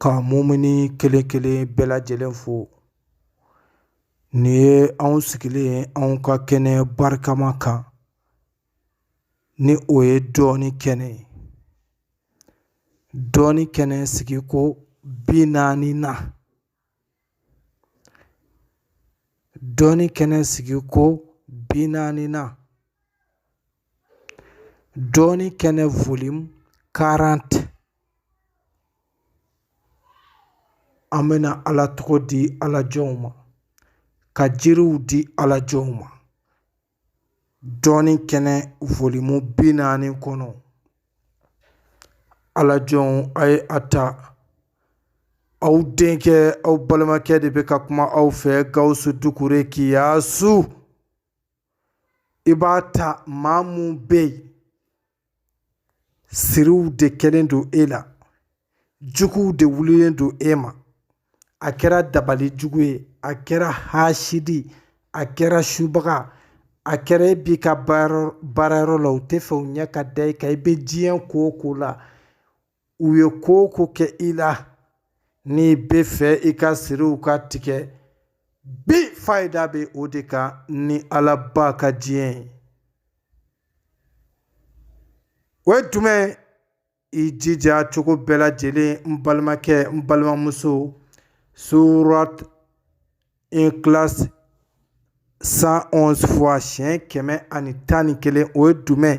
ka mumini kelen kelen bɛɛ lajɛlen fo nin ye anw sigilen ye anw ka kɛnɛ barikama kan ni o ye dɔnni kɛnɛ ye dɔnni kɛnɛ sigiko bi naaninan dɔnni kɛnɛ sigiko bi naaninan dɔnni kɛnɛ volume quarante an bɛna ala tɔgɔ di ala jɔnw ma ka jiriw di ala jɔnw ma dɔnni kɛnɛ volume bi naani kɔnɔ ala jɔnw a ye a ta aw denkɛ aw balimakɛ de bɛ ka kuma aw fɛ gawusu dukure kiyasu i b'a ta maa mun bɛ yen siriw de kɛlen don e la juguw de wulilen don e ma a kɛra dabali jugu ye a kɛra haasidi a kɛra subaga a kɛra e b'i ka baara yɔrɔ la u tɛ fɛ u ɲɛ ka da i kan i bɛ diɲɛ ko o ko la u ye ko o ko kɛ i la n'i bɛ fɛ i ka siriw ka tigɛ bi fayida bɛ o de kan ni ala ba ka diɲɛ ye o ye jumɛn i jija cogo bɛɛ lajɛlen n balimakɛ n balimamuso surat ikhlas cent onze fois siɲɛ kɛmɛ ani tan ni kelen o ye jumɛn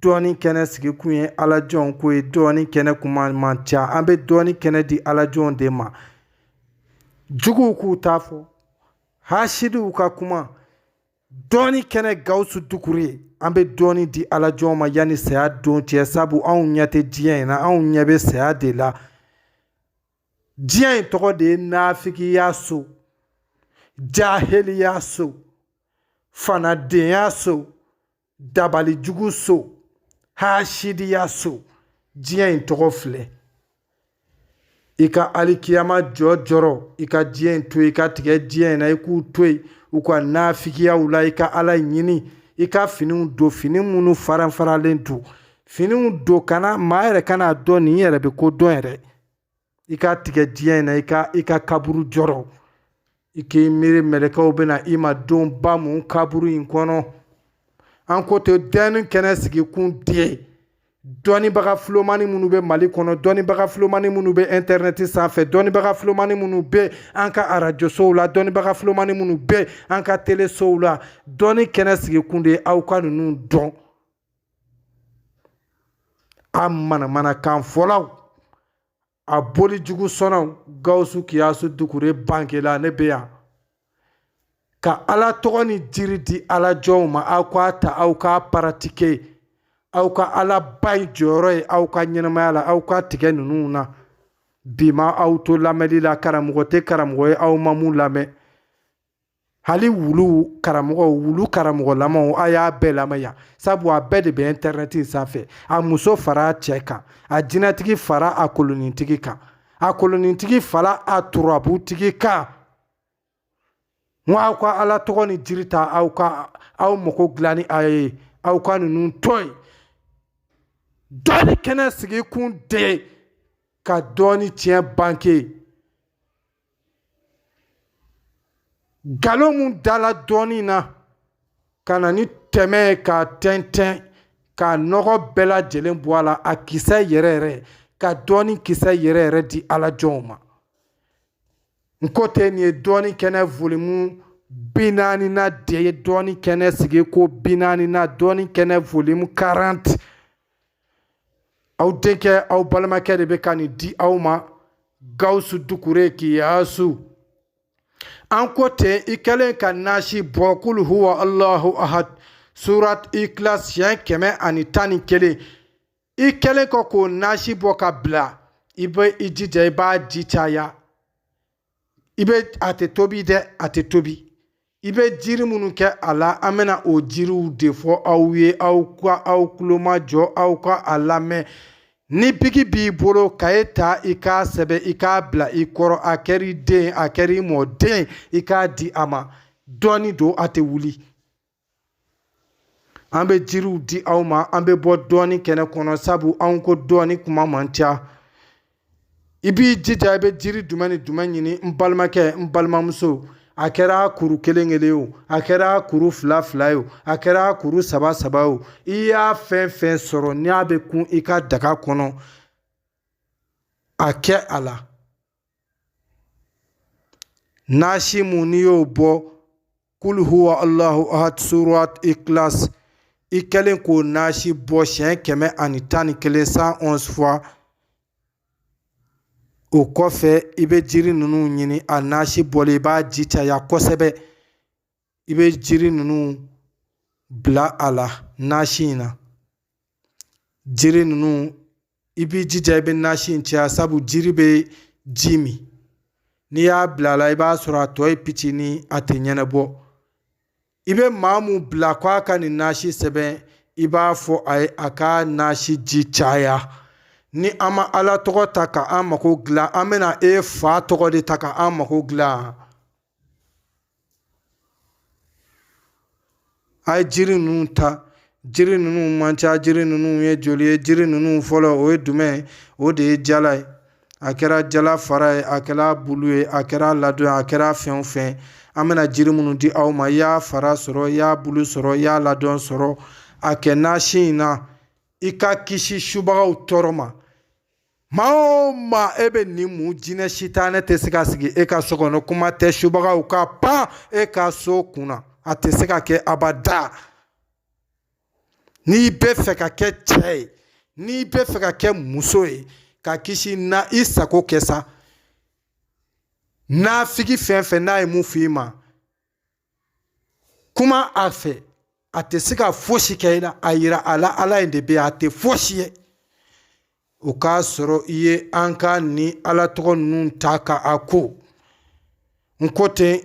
dɔnni kɛnɛ sigi kun ye ala jɔnw ko ye dɔnni kɛnɛ kuma man ca an bɛ dɔnni kɛnɛ di ala jɔnw de ma juguw k'u ta fɔ hasidiw ka kuma dɔnni kɛnɛ gawusu dukure an bɛ dɔnni di ala jɔnw ma yanni saya don cɛ sabu anw ɲɛ tɛ diɲɛ in na anw ɲɛ bɛ saya de la diɲɛ in tɔgɔ de ye nafigiya so jahiliya so fanadenya so dabalijugu so hasidiya so diɲɛ in tɔgɔ filɛ i ka alikiyama jɔ jɔrɔ i ka diɲɛ in to i ka tigɛ diɲɛ in na i k'u to yen u ka nafigiyaw la i ka ala ɲini i ka finiw don fini minnu faranfaralen don finiw don kana maa yɛrɛ kan'a dɔn nin yɛrɛ bɛ ko dɔn yɛrɛ i ka tigɛ diɲɛ in na i ka i ka kaburu jɔrɔ i k'i miiri mɛlɛkɛw bɛ na i ma don ba mun kaburu in kɔnɔ an ko ten dɔnni kɛnɛ sigi kun de ye dɔnnibaga filomani minnu bɛ mali kɔnɔ dɔnnibaga filomani minnu bɛ ɛntɛrɛnɛti sanfɛ dɔnnibaga filomani minnu bɛ an ka arajosow la dɔnnibaga filomani minnu bɛ an ka telesow la dɔnni kɛnɛ sigi kun de ye aw ka ninnu dɔn a manamanakan fɔlaw a boli jugu sɔnnaw gawusu kiyasu dukure bankela ne bɛ yan ka ala tɔgɔ ni jiri di ala jɔnw ma aw k'a ta aw k'a paratike aw ka ala ba in jɔyɔrɔ ye aw ka ɲɛnamaya la aw ka tigɛ ninnu na bi ma aw to lamɛnni la karamɔgɔ tɛ karamɔgɔ ye aw ma mun lamɛn hali wulu karamɔgɔ wulu karamɔgɔlamaw a y'a bɛɛ lamɛn yan sabu a bɛɛ de bɛ ɛntɛrɛnɛti sanfɛ a muso fara a cɛ kan a jinɛtigi fara a kolonintigi kan a kolonintigi fara a turabutigi kan n ko aw ka ala tɔgɔ ni jiri ta aw ka aw mago dilan ni a ye aw ka ninnu to yen dɔɔni kɛnɛ sigi kun de ka dɔɔni tiɲɛ banke nkalon mun dala dɔɔni na ka na ni tɛmɛ ye k'a tɛntɛn k'a nɔgɔ bɛɛ lajɛlen bɔ a la a kisɛ yɛrɛ yɛrɛ ka dɔɔni kisɛ yɛrɛ yɛrɛ di ala jɔnw ma n ko ten nin ye dɔɔni kɛnɛ volimu bi naaninan de ye dɔɔni kɛnɛ sigi ko bi naaninan dɔɔni kɛnɛ volimu 40 aw denkɛ aw balimakɛ de bɛ ka nin di aw ma gawusu dukure kiyasu an ko ten i kɛlen ka nasi bɔ kul huwa allahu ahad surat ikilas siɲɛ kɛmɛ ani tan ni kelen i kɛlen kɔ k'o nasi bɔ k'a bila i bɛ i jija i b'a ji caya i bɛ a tɛ tobi dɛ a tɛ tobi i bɛ jiri minnu kɛ a la an bɛna o jiriw de fɔ aw ye aw ka aw tulo majɔ aw ka a lamɛn ni biki b'i bolo kaye ta i k'a sɛbɛn i k'a bila i kɔrɔ a kɛr'i den a kɛr'i mɔden i k'a di a ma dɔɔni don a tɛ wuli an bɛ jiriw di aw ma an bɛ bɔ dɔɔni kɛnɛ kɔnɔ sabu anw ko dɔɔni kuma man ca i b'i jija i bɛ jiri jumɛn ni jumɛn ɲini n balimakɛ n balimamuso a kɛra kuru kelen kelen o a kɛra kuru fila fila ye o a kɛra kuru saba saba o i y'a fɛn fɛn sɔrɔ n'a bɛ kun i ka daga kɔnɔ a kɛ a la Nasi mun n'i y'o bɔ kul huwa allahu ahad surat ikilas i kɛlen k'o nasi bɔ siɲɛ kɛmɛ ani tan ni kelen cent onze fois o kɔfɛ i bɛ jiri ninnu ɲini a nasi bɔlen i b'a ji caya kosɛbɛ i bɛ jiri ninnu bila a la nasi in na jiri ninnu i b'i jija i bɛ nasi in caya sabu jiri bɛ ji min n'i y'a bila a la i b'a sɔrɔ a tɔ ye fitinin a tɛ ɲɛnabɔ i bɛ maa mun bila ko a ka nin nasi sɛbɛn i b'a fɔ a ye a ka nasi ji caya ni an ma ala tɔgɔ ta ka an mako dilan an bɛna e fa tɔgɔ de ta ka an mako dilan A ye jiri ninnu ta jiri ninnu man ca jiri ninnu ye joli ye jiri ninnu fɔlɔ o ye jumɛn ye o de ye jala ye a kɛra jala fara ye a kɛra bulu ye a kɛra ladon a kɛra fɛn o fɛn an bɛna jiri minnu di aw ma i y'a fara sɔrɔ i y'a bulu sɔrɔ i y'a ladon sɔrɔ a kɛ nasi in na i ka kisi subagaw tɔɔrɔ ma maa o maa e bɛ nin mun jinɛ sitanɛ tɛ se ka sigi e ka so kɔnɔ kuma tɛ subagaw ka pan e ka so kunna a tɛ se ka kɛ abada n'i bɛ fɛ ka kɛ cɛ ye n'i bɛ fɛ ka kɛ muso ye ka kisi na i sago kɛ sa nafigi fɛn o fɛn n'a ye mun f'i ma kuma a fɛ a tɛ se ka fosi kɛ i la a yira a la ala in de bɛ a tɛ fosi ye o k'a sɔrɔ i ye an ka nin ala tɔgɔ ninnu ta ka a ko n ko ten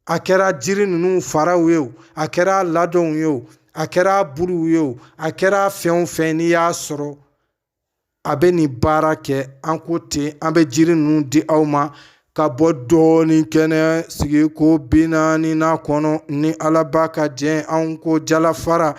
a kɛra jiri ninnu faraw ye o a kɛra ladonw ye o a kɛra buluw ye o a kɛra fɛn o fɛn n'i y'a sɔrɔ a bɛ nin baara kɛ an ko ten an bɛ jiri ninnu di aw ma ka bɔ dɔnni kɛnɛ sigiko bi naaninan kɔnɔ ni alaba ka jɛn an ko jalafara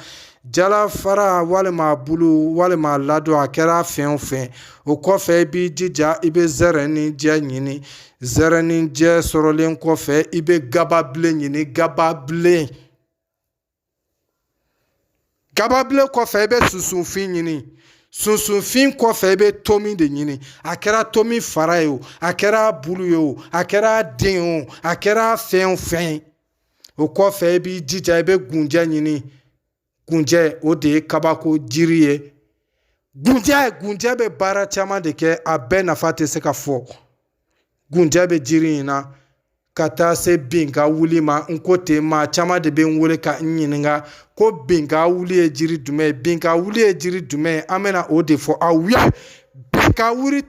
jalafara walima bulu walima ladon a kɛra fɛn o fɛn o kɔfɛ i b'i jija i bɛ zɛrɛninjɛ ɲini zɛrɛninjɛ sɔrɔlen kɔfɛ i bɛ gababilen ɲini gababilen gababilen kɔfɛ i bɛ sunsunfin ɲini sunsunfin kɔfɛ i bɛ tomi de ɲini a kɛra tomi fara ye o a kɛra bulu ye o a kɛra den ye o a kɛra fɛn o fɛn ye o kɔfɛ i b'i jija i bɛ gunjɛ ɲini gunjɛ o de ye kabako jiri ye gunjɛ gunjɛ bɛ baara caman de kɛ a bɛɛ nafa tɛ se ka fɔ gunjɛ bɛ jiri in na ka taa se bin ka wuli ma n ko ten maa caman de bɛ n wele ka n ɲininka ko bin ka wuli ye jiri jumɛn ye bin ka wuli ye jiri jumɛn ye an bɛna o de fɔ aw ye bin ka wuli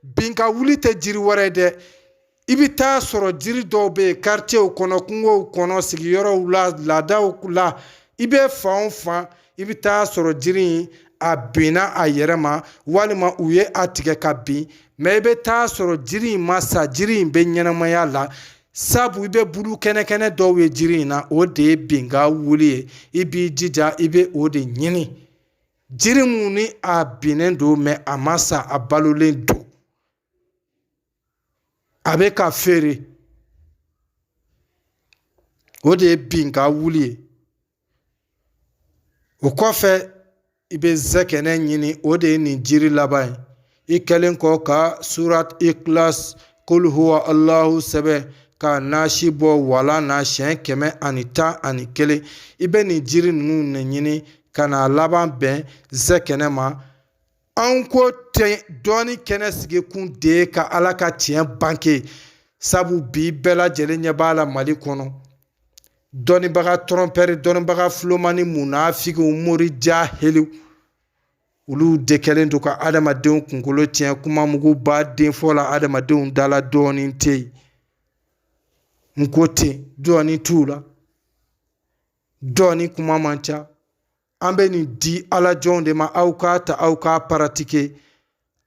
bin ka wuli tɛ jiri wɛrɛ ye dɛ i bɛ taa sɔrɔ jiri dɔw bɛ yen karicew kɔnɔ kungow kɔnɔ sigiyɔrɔw la laadaw la i bɛ fan o fan i bɛ taa sɔrɔ jiri in a binna a yɛrɛ ma walima u ye a tigɛ ka bin mɛ i bɛ taa sɔrɔ jiri in ma sa jiri in bɛ ɲɛnamaya la sabu i bɛ bulu kɛnɛkɛnɛ dɔw ye jiri in na o de ye bin ka wuli ye i b'i jija i bɛ o de ɲini jiri mun ni a binnen don mɛ a ma sa a balolen don a bɛ ka feere o de ye bin ka wuli ye o kɔfɛ i bɛ zɛkɛnɛ ɲini o de ye nin jiri laban ye i kɛlen kɔ ka surat ikhlas kul huwa allahu sɛbɛn ka nasi bɔ walan na siɲɛ kɛmɛ ani tan ani kelen i bɛ nin jiri ninnu de ɲini ka na laban bɛn zɛkɛnɛ ma an ko ten dɔnni kɛnɛ sigikun de ye ka ala ka tiɲɛ banke sabu bi bɛɛ lajɛlen ɲɛ b'a la mali kɔnɔ dɔnnibaga tɔrɔnpɛri dɔnnibaga filomani munafigiw mori jahiliw olu de kɛlen don ka adamadenw kunkolo tiɲɛ kuma muguba de fɔla adamadenw da la dɔnni tɛ yen n ko ten dɔnni t'u la dɔnni kuma man ca an bɛ nin di ala jɔnw de ma aw k'a ta aw k'a paratike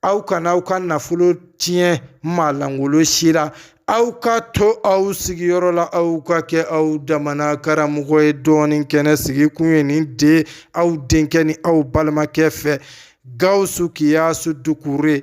aw kana aw ka nafolo tiɲɛ maa langolo si la aw ka to aw sigiyɔrɔ la aw ka kɛ aw damana karamɔgɔ ye dɔnni kɛnɛ sigikun ye nin de aw denkɛ ni aw balimakɛ fɛ gawusu kiyasu dukure